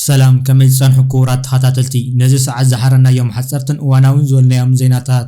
ሰላም ከመይ ትጸንሑ ክቡራት ተኸታተልቲ ነዚ ሰዓት ዝሓረናዮም ሓጸርትን እዋናውን ዝበልናዮም ዜናታት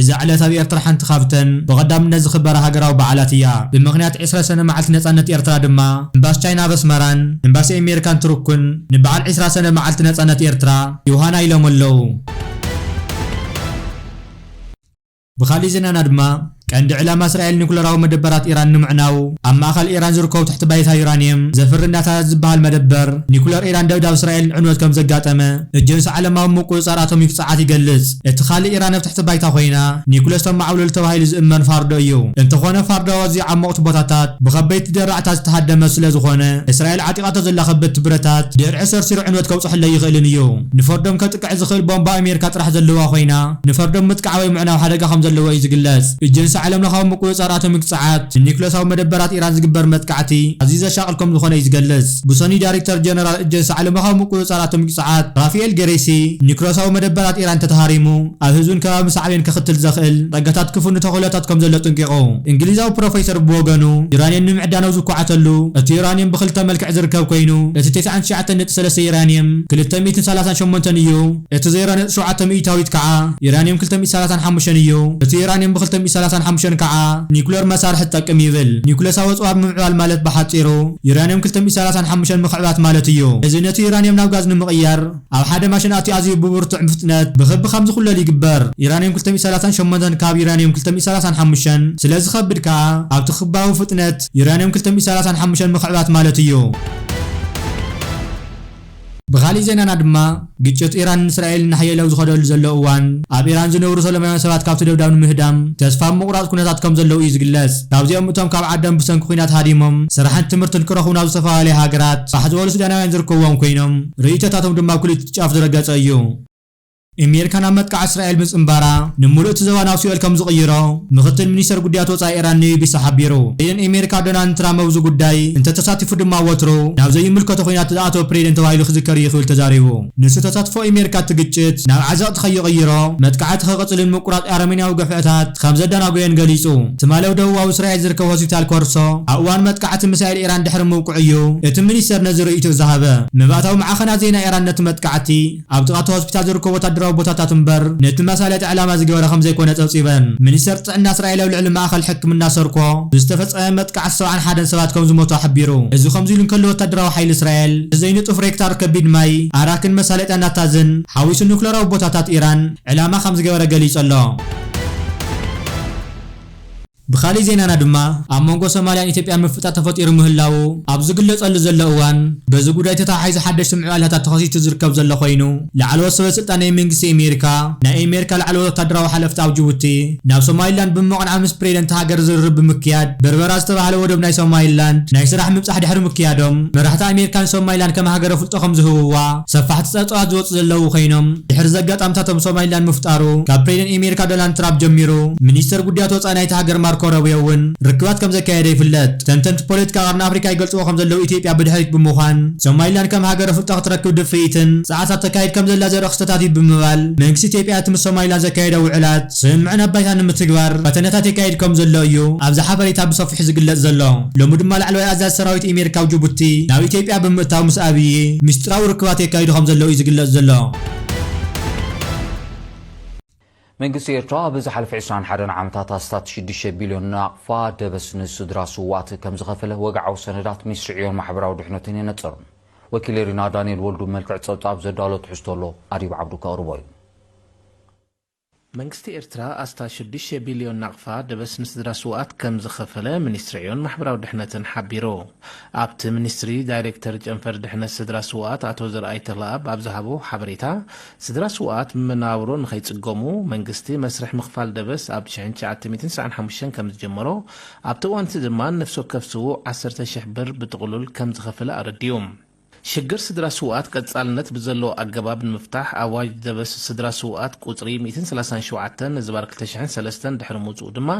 እዛ ዕለት ኣብ ኤርትራ ሓንቲ ካብተን ብቐዳምነት ዝኽበራ ሃገራዊ በዓላት እያ። ብምኽንያት ዕስራ ሰነ መዓልቲ ነጻነት ኤርትራ ድማ እምባሲ ቻይና ኣብ ኣስመራን እምባሲ ኤሜሪካን ቱርክን ንበዓል ዕስራ ሰነ መዓልቲ ነጻነት ኤርትራ ዮሃና ኢሎም ኣለዉ። ብኻልእ ዜናና ድማ ቀንዲ ዕላማ እስራኤል ኒኩለራዊ መደበራት ኢራን ንምዕናው ኣብ ማእኸል ኢራን ዝርከቡ ትሕቲ ባይታ ዩራንየም ዘፍሪ ናታንዝ ዝበሃል መደበር ኒኩለር ኢራን ደብዳብ እስራኤልን ዕንወት ከምዘጋጠመ እጀንሲ ዓለማዊ ምቁጽጻር ኣቶሚክ ጸዓት ይገልጽ። እቲ ካልእ ኢራን ኣብ ትሕቲ ባይታ ኮይና ኒኩለስ ተማዕብለሉ ተባሂሉ ዝእመን ፋርዶ እዩ። እንተኾነ ፋርዶ ኣዝዩ ዓሞቕቲ ቦታታት ብኸበድቲ ደራዕታት ዝተሃደመ ስለዝኾነ እስራኤል ዓጢቓቶ ዘላ ከበድቲ ብረታት ድርዒ ሰርሲሩ ዕንወት ከብጽሐሉ ኣይኽእልን እዩ። ንፈርዶም ከጥቅዕ ዝኽእል ቦምባ ኣሜሪካ ጥራሕ ዘለዋ ኮይና ንፈርዶም ምጥቃዕ ወይ ምዕናው ሓደጋ ከምዘለዎ እዩ ዝግለጽ። ኤጀንሲ ዓለምለኻዊ ምቁጽጻር ኣቶሚክ ጸዓት ንኒኩለሳዊ መደበራት ኢራን ዝግበር መጥቃዕቲ ኣዝዩ ዘሻቕል ከምዝኾነ እዩ ዝገልጽ። ብሰኑይ ዳይሬክተር ጀነራል ኤጀንሲ ዓለምለኻዊ ምቁጽጻር ኣቶሚክ ጸዓት ራፍኤል ገሬሲ፣ ኒዩክለሳዊ መደበራት ኢራን እንተተሃሪሙ ኣብ ህዝብን ከባብን ሳዕቤን ከኽትል ዘኽእል ጸጋታት ክፍኑ ተኽእሎታት ከም ዘሎ ኣጥንቂቑ። እንግሊዛዊ ፕሮፌሰር ብወገኑ፣ ዩራንየም ንምዕዳን ኣብ ዝኳዓተሉ፣ እቲ ዩራንየም ብኽልተ መልክዕ ዝርከብ ኰይኑ፣ እቲ ቴስዓን ትሽዓተን ነጥቢ ሰለስተ ዩራንየም ክልተ ሚእትን ሰላሳን ሸሞንተን እዩ። እቲ ዘይራንዮ ሸውዓተ ሚኢታዊት ከኣ ዩራንየም ክልተ ሚእቲ ሰላሳን ሓሙሽተን እዩ። እቲ ዩራንየም ብክልተ ሚእቲ ሰላሳን ሓሙሽተን ከኣ ኒኩለር መሳርሒ ትጠቅም ይብል። ኒኩለሳዊ ኣጽዋር ምምዕባል ማለት ብሓጺሩ ዩራንየም ክልተ ሚእቲ ሰላሳን ሓሙሽተን ምኽዕባት ማለት እዩ። እዚ ነቲ ዩራንየም ናብ ጋዝ ንምቕያር ኣብ ሓደ ማሽን ኣትዩ ኣዝዩ ብብርቱዕ ፍጥነት ብኽቢ ከም ዝኹለል ይግበር። ዩራንየም ክልተ ሚእቲ ሰላሳን ሸሞንተን ካብ ዩራንየም ክልተ ሚእቲ ሰላሳን ሓሙሽተን ስለ ዝኸብድ ከኣ ኣብቲ ክባዊ ፍጥነት ዩራንየም ክልተ ሚእቲ ሰላሳን ሓሙሽተን ምኽዕባት ማለት እዩ። ብኻሊእ ዜናና ድማ ግጭት ኢራን ን እስራኤል እናሓየለ ኣብ ዝኸደሉ ዘሎ እዋን ኣብ ኢራን ዝነብሩ ሰለማውያን ሰባት ካብቲ ደብዳብ ንምህዳም ተስፋ ኣብ ምቑራፅ ኩነታት ከም ዘለዉ እዩ ዝግለፅ። ካብዚኦም እቶም ካብ ዓዶም ብሰንኪ ኹናት ሃዲሞም ስራሕን ትምህርትን ክረኽቡ ናብ ዝተፈላለያ ሃገራት ፋሕ ዝበሉ ሱዳናውያን ዝርከብዎም ኮይኖም ርእይቶታቶም ድማ ኣብ ክልቲኡ ጫፍ ዝረገፀ እዩ። ኣሜሪካ ናብ መጥቃዕቲ እስራኤል ምጽንባራ ንምሉእ እቲ ዘባ ናብ ሲኦል ከም ዝቕይሮ ምኽትል ሚኒስተር ጉዳያት ወጻኢ ኢራን ንቢቢሲ ሓቢሩ። ፕሬዚደንት ኣሜሪካ ዶናልድ ትራምፕ ኣብዚ ጉዳይ እንተተሳቲፉ ድማ ወትሩ ናብ ዘይምልከቶ ኲናት ዝኣተወ ፕሬዚደንት ተባሂሉ ክዝከር እዩ ክብል ተዛሪቡ። ንሱ ተሳትፎ ኣሜሪካ እቲ ግጭት ናብ ዓዘቕቲ ከይቕይሮ መጥቃዕቲ ክቕጽልን ምቁራጽ ኣረሜንያዊ ግፍዕታት ከም ዘደናጉዮን ገሊጹ። ትማሊ ኣብ ደቡባዊ እስራኤል ዝርከብ ሆስፒታል ኮርሶ ኣብ እዋን መጥቃዕቲ ሚሳኤል ኢራን ድሕሪ ምውቅዑ እዩ እቲ ሚኒስተር ነዚ ርእይትኡ ዝሃበ። መባእታዊ ማዕኸናት ዜና ኢራን ነቲ መጥቃዕቲ ኣብ ጥቓ እቲ ሆስፒታል ዝርከቡ ወታደራዊ ቦታታት እምበር ነቲ መሳለጢ ዕላማ ዝገበረ ከምዘይኮነ ጸብጺበን። ሚኒስተር ጥዕና እስራኤል ኣብ ልዕሊ ማእከል ሕክምና ሰርኮ ብዝተፈጸመ መጥቃዕቲ ሰብዓን ሓደን ሰባት ከምዝሞቱ ሓቢሩ። እዚ ከምዚ'ሉ እንከሎ ወታደራዊ ሓይሊ እስራኤል ብዘይንጡፍ ሬክታር ከቢድ ማይ፣ ኣራክን መሳለጥያ ናታንዝን ሓዊሱ ኑክለራዊ ቦታታት ኢራን ዕላማ ከምዝገበረ ገሊጹ ኣሎ። ብኻሊእ ዜናና ድማ ኣብ መንጎ ሶማልያን ኢትዮጵያን ምፍጣጥ ተፈጢሩ ምህላዉ ኣብ ዝግለፀሉ ዘሎ እዋን በዚ ጉዳይ ተተሓሒዙ ሓደሽቲ ምዕባለታት ተኸሲቱ ዝርከብ ዘሎ ኮይኑ ላዕለዎት ሰበስልጣን ናይ መንግስቲ ኢሜሪካ ናይ ኢሜሪካ ላዕለዎት ወታደራዊ ሓለፍቲ ኣብ ጅቡቲ ናብ ሶማሊላንድ ብምቕናዕ ምስ ፕሬደንት ሃገር ዝርርብ ብምክያድ በርበራ ዝተባህለ ወደብ ናይ ሶማሊላንድ ናይ ስራሕ ምብፃሕ ድሕሪ ምክያዶም መራሕቲ ኣሜሪካ ንሶማሊላንድ ከም ሃገረ ፍልጦ ከምዝህብዋ ሰፋሕቲ ጸብጸባት ዝወጹ ዘለዉ ኮይኖም፣ ድሕሪ እዚ ኣጋጣምታቶም ሶማሊላንድ ምፍጣሩ፣ ካብ ፕሬደን ኤሜሪካ ዶናልድ ትራፕ ጀሚሩ፣ ሚኒስተር ጉዳያት ወጻኢ ናይታ ሃገር ማርኮ ሮብዮ እውን ርክባት ከም ዘካየደ ይፍለጥ። ተንተንቲ ፖለቲካ ቀርኒ ኣፍሪቃ ይገልጽዎ ከም ዘለዉ ኢትዮጵያ ብድሕሪት ብምዃን ሶማሊላንድ ከም ሃገር ኣፍልጦ ክትረክብ ድፍኢትን ጸዕርታት ተካይድ ከም ዘላ ዘርኢ ክስተታት እዩ ብምባል መንግስቲ ኢትዮጵያ እቲ ምስ ሶማሊላንድ ዘካየዶ ውዕላት ስምምዕን ኣባይታን ንምትግባር ፈተነታት የካይድ ከምዘሎ እዩ ኣብዚ ሓበሬታ ብሰፊሑ ዝግለጽ ዘሎ። ሎሚ ድማ ላዕለዋይ ኣዛዚ ሰራዊት ኢሜር ካብ ጅቡቲ ናብ ኢትዮጵያ ብምእታው ምስ ኣብዪ ሚስጢራዊ ርክባት የካይዱ ከምዘለዉ እዩ ዝግለጽ ዘሎ። መንግስቲ ኤርትራ ኣብ ዝሓለፈ ዕስራን ሓደን ዓመታት ኣስታት ሽዱሽተ ቢልዮን ናቕፋ ደበስ ንስድራ ስዉኣት ከም ዝኸፈለ ወግዓዊ ሰነዳት ሚኒስትሪ ዕዮን ማሕበራዊ ድሕነትን የነጽር። ወኪል ሪና ዳንኤል ወልዱ ብመልክዕ ጸብጻብ ዘዳሎ ትሕዝቶ ኣሎ ኣድብ ዓብዱ ከቕርቦ እዩ። መንግስቲ ኤርትራ ኣስታት ሽዱሽተ ቢልዮን ናቕፋ ደበስ ንስድራ ስውኣት ከም ዝኸፈለ ሚኒስትሪ ዕዮን ማሕበራዊ ድሕነትን ሓቢሩ። ኣብቲ ሚኒስትሪ ዳይሬክተር ጨንፈር ድሕነት ስድራ ስውኣት ኣቶ ዘርኣይ ተኽለኣብ ኣብ ዝሃቦ ሓበሬታ፣ ስድራ ስውኣት ብመነባብሮ ንኸይጽገሙ መንግስቲ መስርሕ ምኽፋል ደበስ ኣብ ሽሕን ትሽዓተ ሚእትን ስሳዕን ሓሙሽተን ከም ዝጀመሮ ኣብቲ እዋን'ቲ ድማ ንነፍሲ ወከፍ ስዉእ ዓሰርተ ሽሕ ብር ብጥቕሉል ከም ዝኸፈለ ኣረዲኡ። ሽግር ስድራ ስውኣት ቀጻልነት ብዘለዎ ኣገባብ ንምፍታሕ ኣዋጅ ደበስ ስድራ ስውኣት ቁጽሪ ሚእትን ሰላሳን ሸውዓተን ንዝባር ክልተ ሽሕን ሰለስተን ድሕሪ ምውጽኡ ድማ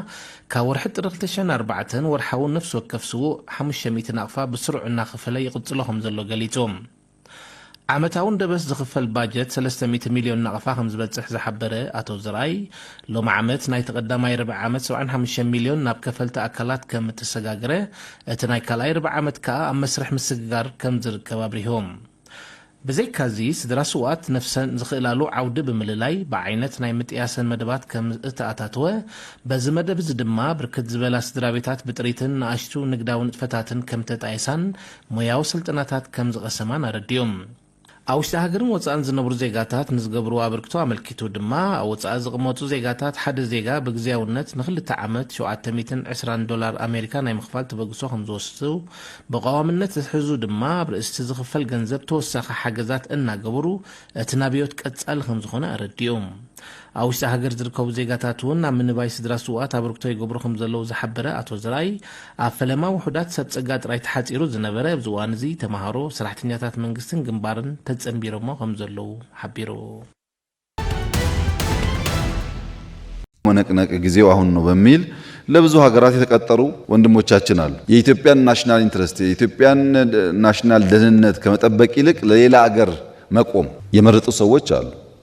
ካብ ወርሒ ጥሪ ክልተ ሽሕን ኣርባዕተን ወርሓዊ ነፍሲ ወከፍ ስዉእ ሓሙሽተ ሚእቲ ናቕፋ ብስሩዕ እናኸፈለ ይቕጽሎ ከምዘሎ ገሊጹ። ዓመታውን ደበስ ዝኽፈል ባጀት ሰለስተ ሚእቲ ሚልዮን ናቕፋ ከምዝበጽሕ ዝሓበረ ኣቶ ዘርኣይ፣ ሎሚ ዓመት ናይቲ ቀዳማይ ርብዒ ዓመት ሰብዓን ሓሙሽተን ሚልዮን ናብ ከፈልቲ ኣካላት ከምእተሰጋገረ እቲ ናይ ካልኣይ ርብዒ ዓመት ከኣ ኣብ መስርሕ ምስግጋር ከም ዝርከብ ኣብሪሁ። ብዘይካዚ ስድራ ስውኣት ነፍሰን ዝኽእላሉ ዓውዲ ብምልላይ ብዓይነት ናይ ምጥያሰን መደባት ከም እተኣታተወ፣ በዚ መደብ እዚ ድማ ብርክት ዝበላ ስድራቤታት ብጥሪትን ንኣሽቱ ንግዳዊ ንጥፈታትን ከም እተጣየሳን ሞያዊ ስልጠናታት ከም ዝቐሰማን ኣረዲኡ። ኣብ ውሽጢ ሃገርን ወጻእን ዝነብሩ ዜጋታት ንዝገብርዎ ኣበርክቶ ኣመልኪቱ ድማ፣ ኣብ ወጻኢ ዝቕመጡ ዜጋታት ሓደ ዜጋ ብግዝያውነት ንኽልተ ዓመት ሸውዓተ ሚእትን ዕስራን ዶላር ኣሜሪካ ናይ ምኽፋል ተበግሶ ከምዝወስዱ ብቐዋምነት ዝሕዙ ድማ ኣብ ርእሲቲ ዝኽፈል ገንዘብ ተወሳኺ ሓገዛት እናገበሩ እቲ ናብዮት ቀጻሊ ከምዝኾነ ኣረዲኡ። ኣብ ውሽጢ ሃገር ዝርከቡ ዜጋታት እውን ናብ ምንባይ ስድራ ስውኣት ኣበርክቶ ይገብሩ ከምዘለዉ ዝሓበረ ኣቶ ዘርኣይ፣ ኣብ ፈለማ ውሑዳት ሰብ ጸጋ ጥራይ ተሓጺሩ ዝነበረ ኣብዚ እዋን እዚ ተመሃሮ፣ ሰራሕተኛታት መንግስትን ግንባርን ተጸንቢሮሞ ከምዘለዉ ሓቢሩ። መነቅነቂ ጊዜው አሁን ነው በሚል ለብዙ ሀገራት የተቀጠሩ ወንድሞቻችን አሉ። የኢትዮጵያን ናሽናል ኢንትረስት የኢትዮጵያን ናሽናል ደህንነት ከመጠበቅ ይልቅ ለሌላ አገር መቆም የመረጡ ሰዎች አሉ።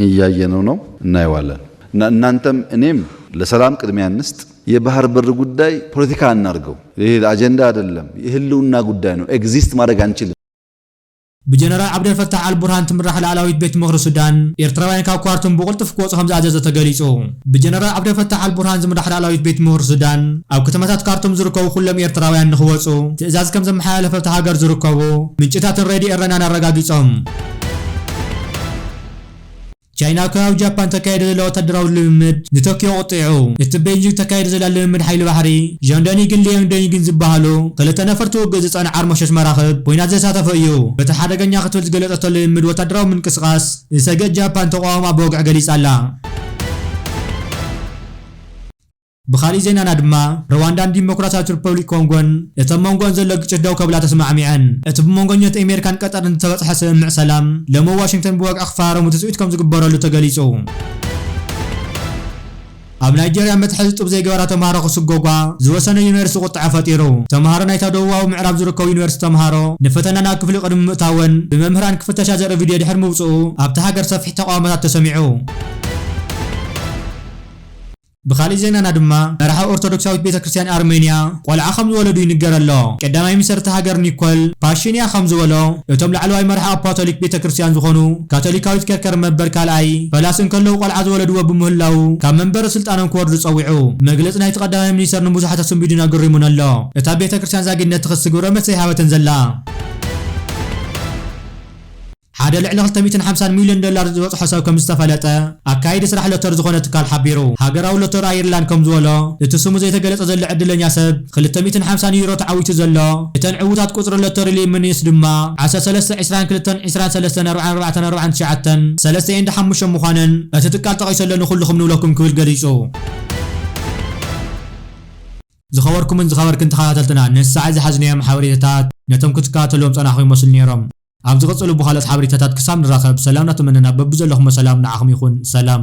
እያየነው ነው እናየዋለን እና እናንተም እኔም ለሰላም ቅድሚያ እንስጥ። የባህር በር ጉዳይ ፖለቲካ አናርገው። ይሄ አጀንዳ አይደለም፣ የህልውና ጉዳይ ነው። ኤግዚስት ማድረግ አንችልም። ብጀነራል ዓብደልፈታሕ ኣልቡርሃን ትምራሕ ላእላዊት ቤት ምኽሪ ሱዳን፣ ኤርትራውያን ካብ ኳርቱም ብቕልጡፍ ክወጹ ከምዝኣዘዘ ተገሊጹ። ብጀነራል ዓብደልፈታሕ ኣልቡርሃን ዝምራሕ ላእላዊት ቤት ምኽሪ ሱዳን፣ ኣብ ከተማታት ካርቱም ዝርከቡ ኩሎም ኤርትራውያን ንኽወጹ ትእዛዝ ከምዘመሓላለፈ ኣብታ ሃገር ዝርከቡ ምንጭታትን ሬድዮ ኤረናን ኣረጋጊጾም። ቻይና ኣብ ከባቢ ጃፓን ተካይዶ ዘላ ወታደራዊ ልምምድ ንቶክዮ ኣቑጢዑ። እቲ ቤይጂንግ ተካይዶ ዘላ ልምምድ ሓይሊ ባሕሪ፣ ዣንዶኒግን ሊዮንግዶኒግን ዝበሃሉ ክልተ ነፈርቲ ውግእ ዝጸዕና ዓርሞሸሽ መራኽብ ኲናት ዘሳተፈ እዩ። በቲ ሓደገኛ ክትብል ዝገለጸቶ ልምምድ ወታደራዊ ምንቅስቓስ ዝሰግእት ጃፓን ተቓውሞኣ ብወግዒ ገሊጻ'ላ። ብኻሊእ ዜናና ድማ ርዋንዳን ዲሞክራሲያዊት ሪፐብሊክ ኮንጎን እቶም መንጎኣን ዘሎ ግጭት ደው ከብላ ተስማዕሚዐን። እቲ ብመንጎኝነት ኤሜሪካን ቀጠርን ዝተበጽሐ ስምምዕ ሰላም ሎሚ ኣብ ዋሽንግተን ብወግዒ ክፈራረሙ ትጽቢት ከምዝግበረሉ ተገሊጹ። ኣብ ናይጀርያ መትሓዚ ጡብ ዘይገበራ ተምሃሮ ክስጎጓ ዝወሰነ ዩኒቨርሲቲ ቁጠዐ ፈጢሩ። ተምሃሮ ናይታ ደቡባዊ ምዕራብ ዝርከቡ ዩኒቨርሲቲ ተምሃሮ ንፈተና ናብ ክፍሊ ቅድሚ ምእታወን ብመምህራን ክፍተሻ ዘርኢ ቪድዮ ድሕሪ ምውጽኡ ኣብታ ሃገር ሰፊሕ ተቓውሞታት ተሰሚዑ። ብኻሊእ ዜናና ድማ መራሒ ኦርቶዶክሳዊት ቤተ ክርስትያን ኣርመንያ ቆልዓ ከም ዝወለዱ ይንገር ኣሎ። ቀዳማይ ሚኒሰርቲ ሃገር ኒኮል ፓሺንያ ከም ዝበሎ እቶም ላዕለዋይ መራሒ ኣፓቶሊክ ቤተ ክርስትያን ዝኾኑ ካቶሊካዊት ከርከር መበር ካልኣይ ፈላሲ እንከለዉ ቆልዓ ዝወለድዎ ብምህላዉ ካብ መንበረ ስልጣኖም ክወርዱ ጸዊዑ። መግለጺ ናይቲ ቀዳማይ ሚኒሰር ንብዙሓት ኣሰንቢዱን ኣገሪሙን ኣሎ። እታ ቤተ ክርስትያን ዛጊድነት ትኽሲ ግብረ መልሲ ኣይሃበትን ዘላ። ሓደ ልዕሊ ክልተ ሚእትን ሓምሳን ሚልዮን ዶላር ዝበጽሖ ሰብ ከምዝተፈለጠ ኣካያዲ ስራሕ ሎተሪ ዝኾነ ትካል ሓቢሩ። ሃገራዊ ሎተሪ ኣየርላንድ ከምዝበሎ፣ እቲ ስሙ ዘይተገለጸ ዘሎ ዕድለኛ ሰብ ክልተ ሚእትን ሓምሳን ዩሮ ተዓዊቱ ዘሎ። እተን ዕዉታት ቁጽሪ ሎተሪ ሊምኒስ ድማ ዓሰርተ ሰለስተ፣ ዕስራን ክልተን፣ ዕስራን ሰለስተን፣ ኣርባዓን ኣርባዕተን፣ ኣርባዓን ትሽዓተን፣ ሰለስተ ኤንድ ሓሙሽተን ምዃነን እቲ ትካል ጠቒሱ ኣሎ ንኹልኹም ንብለኩም ክብል ገሊጹ። ዝኸበርኩምን ዝኸበርክን ተኸታተልትና ንሳዕ ዝሓዝናዮም ሓበሬታታት ነቶም ክትከታተልዎም ዝጸናሕኩም ይመስሉ ኔሮም። ኣብዚ ቀጽሉ ብካልኦት ሓበሬታታት ክሳብ ንራከብ ሰላም ናተመነና በብዘለኩሞ ሰላም ንዓኩም ይኩን ሰላም።